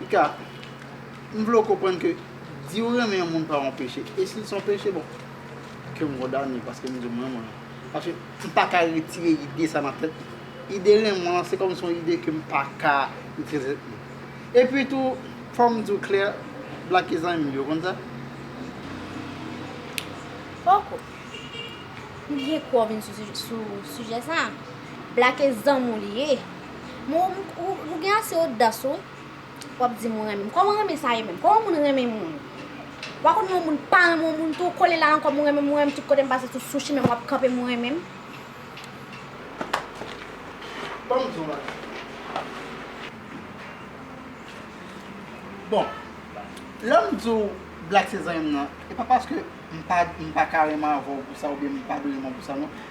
Pika, m vle w konprann ke di w renmen yon moun pa yon peche. E si l se yon peche, bon, ke m kondane l paske m di w m renmen l. Paske m pa ka retire ide sa nan tèt mwen. Ide renmen w lan, se kòm si yon ide ke m pa ka retire nan tèt mwen. Epi tou, fò m di w klè, Blaky zanmi m yo konn sa. Poko. M gen kouw vin sou sijè sa. Blake zanmiw li ye. Mwen ou gen ase odas ou wap dim ou renmenm. Koman renmen sa ye menm? Koman moun renmen moun? Wa konn yon moun pa renmen yon moun tou kole la ankò mwen renmenm mwen renmenm tout kotem pase sou sou chimenm wap kanpe mwen renmenm. Banm di yon bagay. Bon lèm diw Blak se zanmim nan e pa paske m paka renmen avèw pou sa oubyen m pa dwe renmen w pou sa non.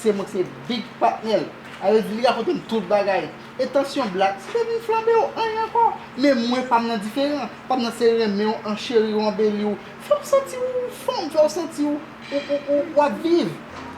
Se mwen ki se big patnèl. Ayo di li rakontem tout bagay. E tansyon black se te vin flanbe ou anyen ankò. Men mwen pam nan diferan. Pam nan se renmenw an cheriw anbeliw fèw santi ou fanm fèw santi ou wap viv.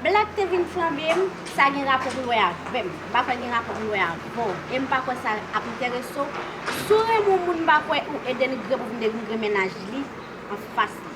Black te vin flanbem sa gen rapò poul wè avèm m pa kwè gen rapò poul wè avèw em pa kwè sa ap enteresew si w renmen yon moun m pa kwè ou e denigre pou vin denigre mennaj li anfas li.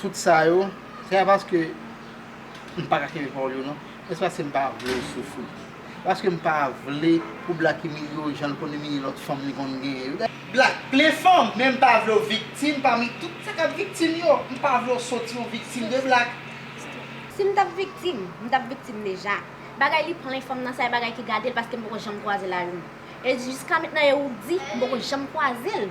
Tout sa yo, se pa paske m pa ka kenbe pawòl yo non, men se paske m pa vle w soufri. Paske m pa vle pou Black imilye w jan l konn imilye lòt fanm li konn genyen yo. Black plen fanm, men m pa vle w viktim pami tout sa k ap viktim yo. M pa vle w soti yon viktim de Black. Si m t ap viktim, m t ap viktim deja. Bagay li plen fanm nan, sa e bagay ki gade l paske m poko janm kwaze l a youn. E jiska mentnan e ou k di, m poko janm kwaze l.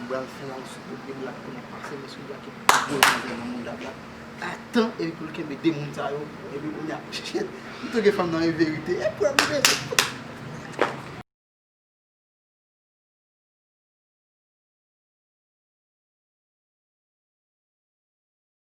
M pral fè yon sou kote black pou nou pase men sou black e pi gwo nan gen nan mouda black a tan epi pou l kenbe 2 moun sa yo epi kounya shit m tou gen fanm nan wi verite e pwèl m bezwen.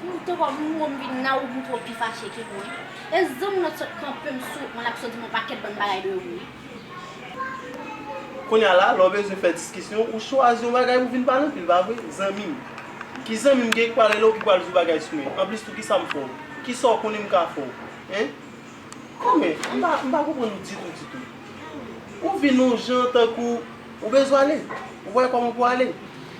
Ou tro mou m vin la ou m tro pi fache ke mwen e zanm nan sot kanpe m sou mwen lap sot di m yon paket bon bagay de ou wi. Kounya la lè w bezwen fè diskisyon ou chwazi yon bagay pou vin pale anpil pa vre zanmi m? Ki zanmi m gen ki pral rele w ki pral di w bagay sou mwen? Anplis tou kisa m fè w? Kisa w konnen m ka fè w? Hein? Anmwee m pa m pa konprann ou ditou ditou. Ou vin yon jan tankou ou bezwen ale. Ou wè kòman pou ale.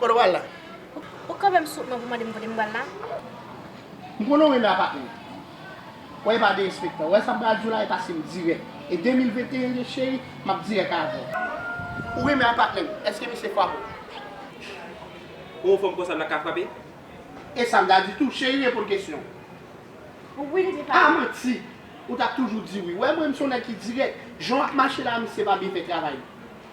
Kote w al la? Ou ka fè m souf man pou mande m kote m pral la? M konnen w renmen apatman an. Wè e pa derespektan. Wè sa m pral di w la e pase m dirèk. E 2021 ye cheri, m ap dirèk avè w. Ou renmen apatman m. Èske misye fwape w? Pou yon fanm konsa m ta ka fwape? E sa m ta di tou? Cheri reponn kesyon an. Wi li di pa. A manti! Ou t ap toujou di wi. Wè mwen m se yon nèg ki dirèk. Jan w ap mache la a misye pa byen fè travay li.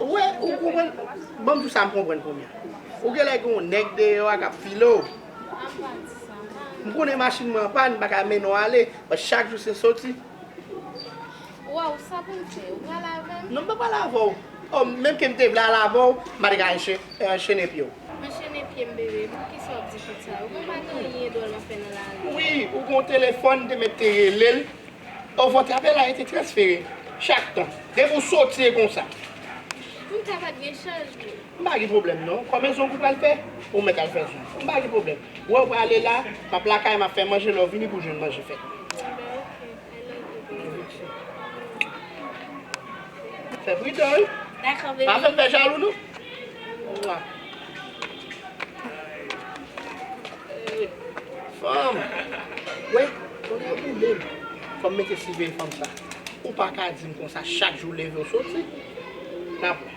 Wè ou konprann banm jou sa m konprann kounya ou genlè gen yon nèg deyò a kap file w m konnen machin mwen anpàn m paka mennen w ale paske chak jou se soti Waww sa pou m fè ou pral avè m? Non m pap pral avè w oh menm ke m te vle al avè w m pa te ka anchene pye w. Anchene pye m bebe poukisa w ap di tout sa ou konn pa gen anyen dòl wap fè nan lari a. Wi ou gen yon telefòn m te mèt te rele l. O vòt apèl la rete transfere chak tan. Depi ou soti e konsa. Pou m ka pa gen chanjman. M pa gen pwoblèm non. Konbyen zong ou pral fè? Ou mèt al fè zong. M pa gen pwoblèm. Wè ou prale la, m ap lakay ou m ap fè manje lè ou vini pou jwenn manje fèt. Anben ok. I love you baby. Love you too. Fè pridan wi. Dakò baby. Pa fè m fè jalou non. Mwah. Fanm Wè tonè boulem fòm mete siveye fanm sa ou paka dim konsa chak jou ou leve ou soti nap wè.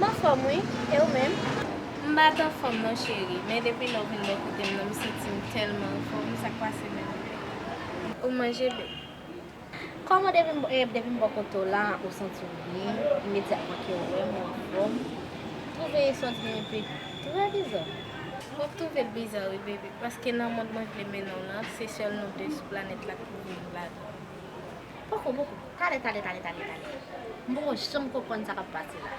M anfòm wi, e ou menm? M pa t anfòm non cheri, men depi lè w vin bò kote m nan m santi m tèlman anfòm, sa k pase menm? Ou manje byen? Kòman depi m bò kote w la ou santi w byen, imedyatman ke w wè m ou anfòm? M twouve sa w di an epi trè bizà. W ap twouve l bizà wi bebe, paske nan mond mwen vle mennen w lan, se sèl nou de sou planèt la k pou viv ladan l. Poko poko. Talè talè talè talè talè. M poko janm konprann sa k ap pase la.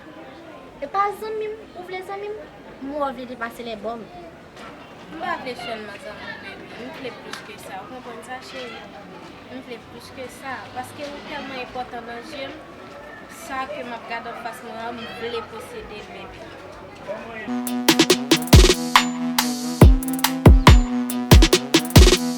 E pa zanmi m ou vle zanmi m? M wè w vle depase lè bò m. M pa vle sèlman zanmi w baby. M vle plis ke sa. Ou konprann sa cheri? M vle plis ke sa. Paske ou tèlman enpòtan nan zye m. Sa ke m ap gade an fas mwen an m vle posede l baby.